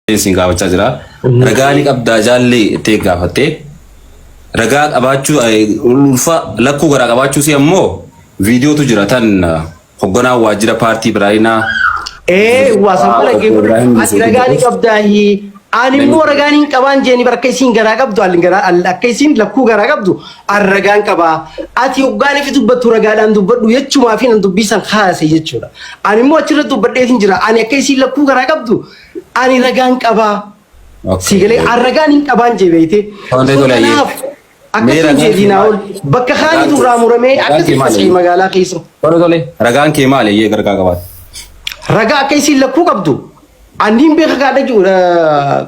siin gaafachaa jira. Ragaa ni qabdaa jaalli itti gaafattee. Ragaa qabaachuu eh, ulfa lakkuu garaa qabaachuu si ammoo viidiyootu jira tan eh, hogganaa waajjira paartii Biraayinaa Ee waa san mala Obbo geefu Ibrahim ati Yusuf ragaan Idris. qabdaahi ani immoo ragaan hin qabaan jeeni bar akka isiin garaa qabdu alin garaa al- akka isiin lakkuu garaa qabdu an ragaan qabaa ati hoggaan ifi dubbattu ragaadhaan dubbadhu jechumaa fi nan dubbisan haase jechuudha ani immoo achirra dubbadheetin jira ani akka isiin lakkuu garaa qabdu Ani ragaan qabaa. Okay. Sii galee an ragaan hin qabaan jee beeyte. Tole, So tole, ayyee. kanaaf Mee akkasii ragaan jeetii kee naa maali? ol bakka Ragaan kaanitu kee- irraa muramee ragaan akkasii kee maali? faca'i magaalaa keessa. Tole tole ragaan kee maali eeyyee gargaa qabaate. Ragaa akka isiin lakkuu qabdu anniin beeka gaadha jiru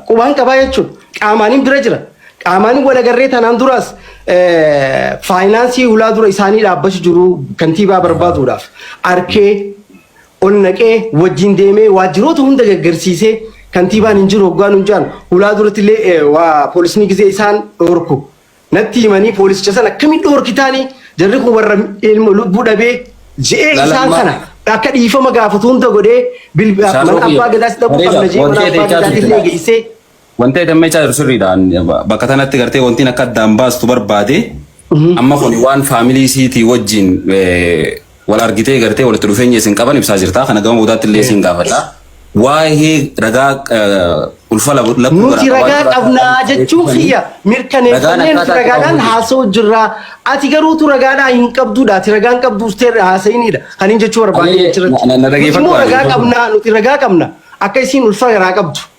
qubaan qabaa jechuudha. Qaamaanin bira jira. Qaamaanin walagarree tanaan duraas eh, faayinaansii hulaa dura isaanii dhaabbachu jiru kantiibaa barbaaduudhaaf arkee ol naqee wajjin deemee waajjiroota hunda gaggarsiisee kantiibaan hin jiru hoggaa nun jedhan hulaa duratti illee waa poolisni gizee isaan dhoorku natti himanii poolisicha sana akkamiin dhoorkitaanii jarri kun warra ilma lubbuu dhabee je'ee Lala, isaan ma- kana akka dhiifama gaafatu hunda godhee bilbi- Isaa mana soqii. abbaa gadaas dhaquu Bareeda, qabna je'ee mana wanti abbaa ati gadaas illee jechaa geessee Wanta jedhamee caa jiru sirriidha. Bakka tanatti gartee wantiin akka addaan baastu barbaade amma kun waan faamilii isiitii wajjin eh, wal argitee gartee walitti dhufeenya isin qaban ibsaa jirta. Kana gama boodaatti illee isin gaafadha. Waa'ee ragaa eh, ulfa labu- lakkuu Nuti garaa ragaa qabaa- qabnaa jechuun kiyya Ragaan mirkaneeffannee nuti akkaataa ragaadhaan qabamu. haasa'u jirraa. Ati garuutu ragaadhaa hin qabduudha. Ati ragaan qabduus ta'e haasa'inidha. Kan hin jechuu barbaade Ani- achirratti. na- na- na Nuti immoo dhaggeeffadhu. ragaa qabnaa nuti ragaa qabna. Akka isiin ulfa garaa qabdu.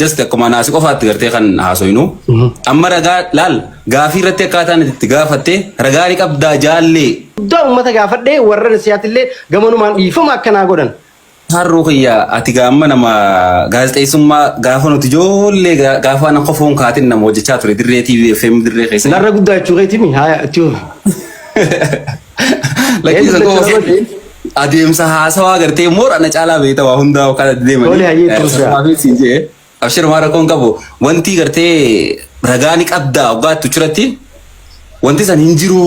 just akkuma naasi qofaatti gartee kan haasoynu amma ragaa laal gaafii irratti akkaataan itti gaafatte ragaa ni qabdaa jaallee Guddaa uummata gaafadhee warra nasiyaattillee gamanumaan dhiifama akkanaa godhan. harroo kiyya ati gaamma nama gaazexeessummaa gaafa nuti ijoollee ga- gaafa na qofoon kaatin nama hojjechaa ture dirree TV FM dirree keessa Narra guddaa jechuu keetimi haa itti hubi. Lakkiisa koo adeemsa haasawaa agartee moor ana caalaa beekta waa hundaa kan adda deemanii. Tole, hayyee, tuusaa. Akkuma beeksiin jee abshir waan rakkoon qabu wanti gartee ragaa ni qabda oggaa itti uchuratti wanti san hin jiru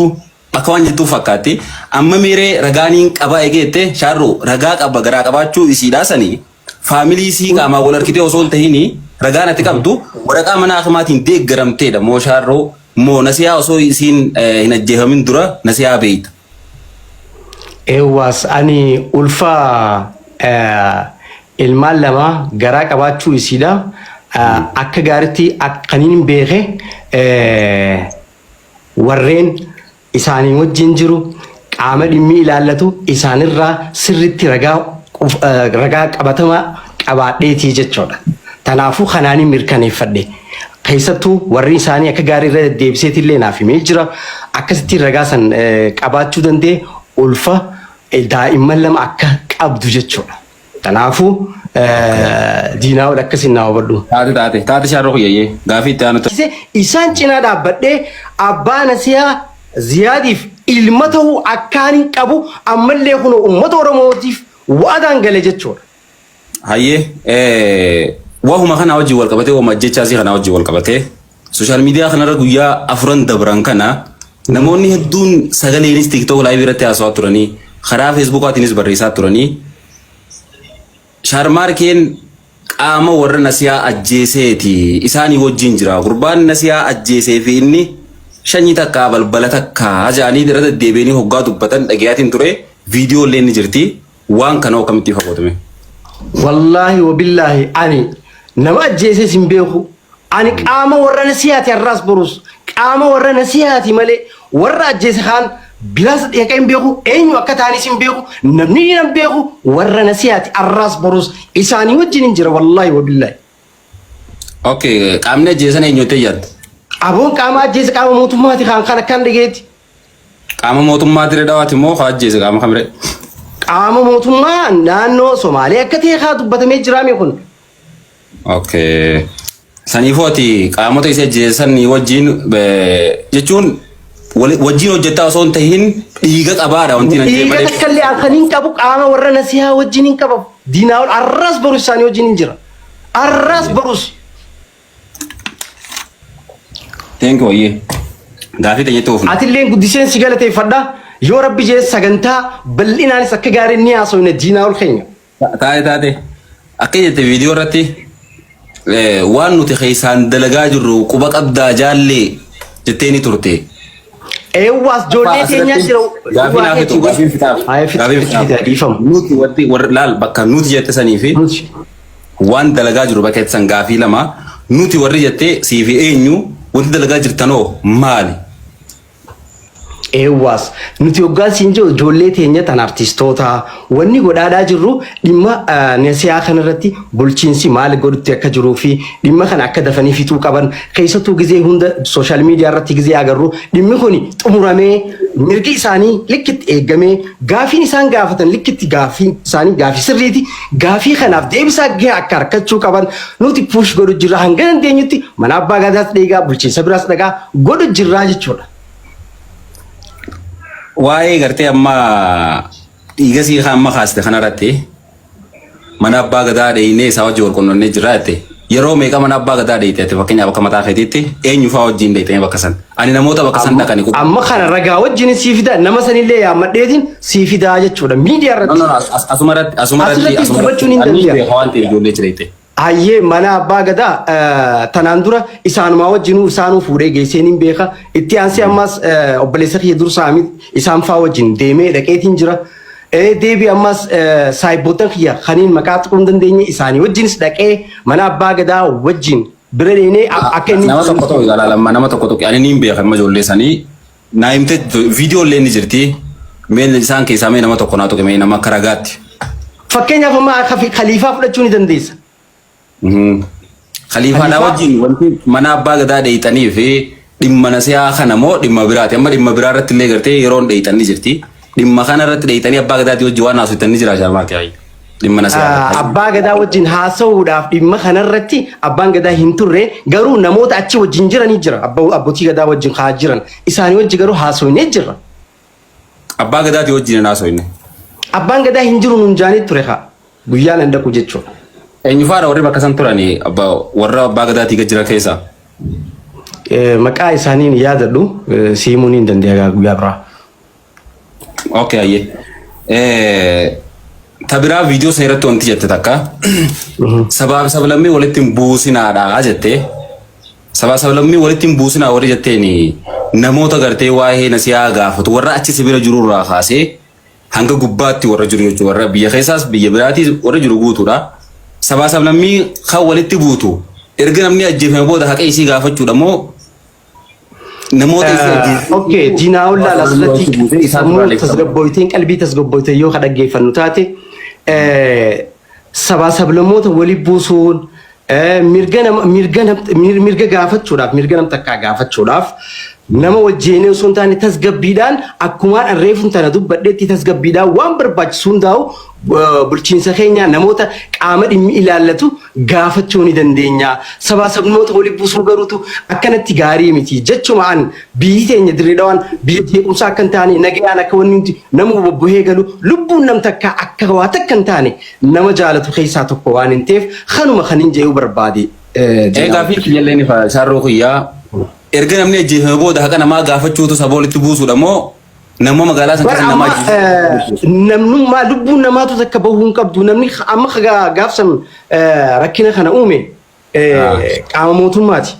akka waan jettuu fakkaatti. Amma miiree ragaa ni qaba egeette shaarru ragaa qaba garaa qabaachuu isiidhaa sanii Faamilii isii qaamaan wal argitee osoo hin tahiin ragaan ati qabdu waraqaa mana akimaatiin deeggaramteedha moo shaarroo moo nasiyaa osoo isiin eh, hin ajjeefamin dura nasiyaa beeyta. Eewwaas ani ulfa eh, ilmaan lama garaa qabaachuu isiidha. Eh, Akka gaaritti ak- kan hin beeke eh, warreen isaanii wajjin jiru qaama dhimmi ilaallatu isaanirraa sirriitti ragaa of- eh, ragaa qabatamaa qabaadheetii jechuudha. Tanaafuu kanaanin mirkaneeffadhe. Keessattuu warri isaanii akka gaarii irra deddeebiseeti illee naaf himee jira. Akkasitti ragaa san eh, qabaachuu danda'e ulfa eh, daa'imman lama akka qabdu jechuudha. Kanaafuu diinaa ol akkasiin naa hubadhu. Taate taate taate shaarroo kiyyayyee gaafii itti aanu Kise isaan cinaa dhaabbadhee abbaa nasihaa Ziyaadiif ilma ta'uu akkaanin qabu ammallee kunoo uummata Oromootiif wa'adaan gale jechuudha. hayyee wahuma kanaa wajjin wal qabatee wahuma ajjechaa isii kanaa wajjin wal qabatee Sooshaal miidiyaa kanarra guyyaa afuran dabran kana namoonni hedduun sagaleenis TikTok live irratti haasawaa turanii karaa Feesbuukaatiinis barreessaa turanii shaarmaarkeen qaama warra nasiyaa ajjeeseeti isaanii wajjin jira gurbaan nasiyaa ajjeesee fi inni shanyii takkaa balbala takkaa jedhanii irra deddeebi'anii hoggaa dubbatan dhagayaatiin ture viidiyoo illee ni jirti. Waan kana hoo kamittii fagootu mee? Wallaahi wabillaahi ani nama ajjeeses hin beeku. Ani qaama warra nasihaati har'aas borus qaama warra nasihaati malee warra ajjeese kaan bilaas dheeqa hin beeku eenyu akka taanis hin beeku namni hin hin beeku warra nasihaati har'aas borus isaanii wajjin hin jira wallaahi wabillaahi. Okay qaamni ajjeesan eenyuutti yaadda? Aboon qaama ajjeese qaama mootummaati kaan kan akkan dhageetti Qaama mootummaa Dirree Dhawaati moo kaa ajjeese qaama kamiree? Qaama mootummaa naannoo Somaalee akka ta'e kaa dubbatamee jiraame kun. Okay. Saniifuu ati qaamota isa ajjeesan wajjin eh, jechuun wali- wajjin hojjettaa osoo hin tahin dhiiga qabaadha wanti nan jee Dhiiga malee. takka illee halkan hin qabu qaama warra nasihaa wajjin hin qabamu. Diinaa ol arras barus isaanii wajjin hin jira. Arras barus. Thank you ayyee. Gaafii teenyatti oofna. Atilleen guddiseen si galateeffadha. Yoo rabbi jee sagantaa bal'inaanis akka gaarii ni haasofna diinaa ol keenya. Taate taate. Akka jette viidiyoo irratti eh, waan nuti keessaan dalagaa jirru quba qabdaa jaallee jettee ni turte. Eewwaas ijoollee teenyaa jira. Gaafii naaf hedduu, gaafiin fixaaf. Haa, fixi, Gaafiin fixi, fixaaf. fixi, dhiifama. Nuti wanti warri laal bakka nuti jette sanii fi Nuti. Waan dalagaa jiru bakka ittisan gaafii lama nuti warri jettee siifi eenyu wanti dalagaa jirtanoo maali? Eewwaas nuti hoggaan siin jiru ijoollee teenya tan artistootaa wanni godhaadhaa jirru dhimma nasihaa kana irratti bulchiinsi maal godhutti akka jiruu fi dhimma kana akka dafanii fixuu qaban keessattuu gizee hunda sooshaal miidiyaa irratti gizee agarru dhimmi kuni xumuramee mirgi isaanii likkitti eeggamee gaafiin isaan gaafatan likkitti gaafiin isaanii gaafii sirriiti Gaafii kanaaf deebisaa gahe akka arkachuu qaban nuti push godhu jirra hanga dandeenyutti mana abbaa gaadaas dheegaa bulchiinsa biraas dhagaa godhu jirraa jechuudha. Waa'ee gartee amma dhiigasii amma kaaste kanarratti mana abbaa gadaa dheeynee isaa wajji wal qunnamnee jirra jette. Yeroo meeqa mana abbaa gadaa dheeyte ati fakkeenyaaf akka mataa keetiitti eenyu fa'aa wajjin dheeyte bakka san. Ani namoota bakka san dhaqani qub. Amma kana ragaa wajjin sii fida nama sanillee yaammadheetiin sii fidaa jechuudha miidiyaa No irratti. no no as- as- asuma irratti asuma irratti Asirratti asuma irratti dubbachuun hin ani danda'amu. beeka waan ta'eef ijoollee achi dheeyte. Hayyee mana abbaa gadaa eh, tanaan dura isaanumaa wajjinuu isaanuu fuudhee geessee niin beeka. Itti aansee ammas eh, obboleessa kiyya dursaa miti isaan faa wajjin deemee dhaqeetiin jira. Ee deebi ammas saahibboottan kiyya kaniin maqaa tuquu hin dandeenye isaanii wajjinis dhaqee mana abbaa gadaa wajjin bira deemnee akka inni Nama tokko tokko ilaalaa lamma nama tokko tokko ani niin beeka amma ijoollee sanii naa himte viidiyoo illee ni jirti mee isaan keessaa mee nama tokko naa tuqime nama akka ragaatti. Fakkeenyaaf amma akka fi- kaliifaa fudhachuu ni dandeessa. Khaliifaadhaa Khaliifaa- wajjin wanti mana abbaa gadaa dheeyxanii fi dhimma nasihaa kana moo dhimma biraati amma dhimma biraa irratti illee gartee yeroon dheeyxan ni jirti dhimma kana irratti dheeyxanii abbaa gadaatii wajjin waan haasoftan ni jira shaamaati ayyi dhimma nasihaa Ah, irratti. abbaa gadaa wajjin haasa'uudhaaf dhimma kanarratti abbaan gadaa hin turre garuu namoota achi wajjin jiranii jira Abbo- abbootii gadaa wajjin haa jiran isaanii wajji garuu haasofnee jirra Abbaa Gadaatii wajjin hin haasofne. Abbaan gadaa hin jiru nuun jaanii ture haa. Guyyaan hin dhaqu jechuudha. Eenyufaadha warri bakka san turani abba- warra Abbaa Gadaatii gad jiran keessaa? Eh, Maqaa isaanii hin yaadadhu eh, si himuu ni hin dandeenya gaa guyyaa biraa. Okay, ayyee. Eh, Ta biraa viidiyoo sana irratti wanti jette takka sabaa fi sablammii walitti hin buusinaadha jette. Sabaa sablammii walitti hin buusinaa warri jetteen namoota gartee waa'ee nasiyaa gaafatu warra achi sibira jiru irraa kaasee hanga gubbaatti warra jiru jechuudha. Warra biyya keessaas biyya biraatiis warra jiru guutuudha. Sabaa sablammii kan walitti buutu erga namni ajjeefame booda haqa isii gaafachuudha moo namoota isii ajjeefame. Okkee diinaa ollaa asirratti sammuu tasgabbooyteen qalbii tasgabbooyteen yoo ka dhaggeeffannu taate sabaa sablammoota wali buusuun mirga nama mirga nam mirga gaafachuudhaaf mirga nam takkaa gaafachuudhaaf nama wajjeenee osoo hin taane tasgabbiidhaan akkumaan arreefun tana dubbadhetti tasgabbiidhaan waan barbaachisu hundaa'u bulchiinsa keenya namoota qaama dhimmi ilaallatu gaafachuu ni dandeenya sabaa sablammoota wali buusuu garuutu akkanatti gaarii miti jechuma an Biyyi teenya Dirree Dhawaan biyya jeequmsaa akka hin taane, nagayaan akka wanni hundi namuu bobbohee galu, lubbuun nam takkaa akka waa takka hin taane nama jaalatu keessaa tokko waanin teef kanuma kanin je'uu barbaade. Ee gaafiin kiyyallee ni fa'a isaarroo kiyyaa erga namni ajjeefame booda haqa namaa gaafachuutu saba walitti buusuudha moo namoo magaalaa san Bar keessa namaa amma ajjeesu. eh, namnummaa lubbuun namaatu takka bahuu hin qabdu namni amma gaafsan rakkina kana uume qaama mootummaati.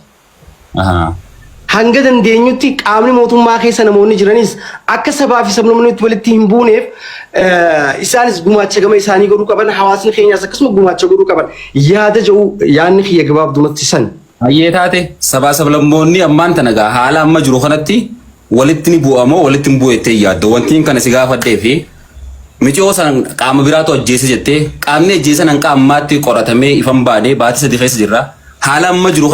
Hanga dandeenyutti qaamni mootummaa keessa namoonni jiranis akka sabaa fi sablammoonni walitti hin buuneef isaanis gumaacha gama isaanii godhuu qaban hawaasni keenyaas akkasuma gumaacha godhuu qaban yaada jedhu yaadni kiyya gabaabdumatti san. Hayyee taate sabaa sablammoonni ammaan tana gaa haala amma jiru kanatti walitti ni bu'a moo walitti hin bu'u jettee hin yaaddu? Wantiin kana si gaafadhee fi miciyoo san qaama biraatu ajjeese jettee qaamni ajjeesan hanga ammaatti qoratamee ifan baanee baatii sadi keessa jirra. Haala amma jiru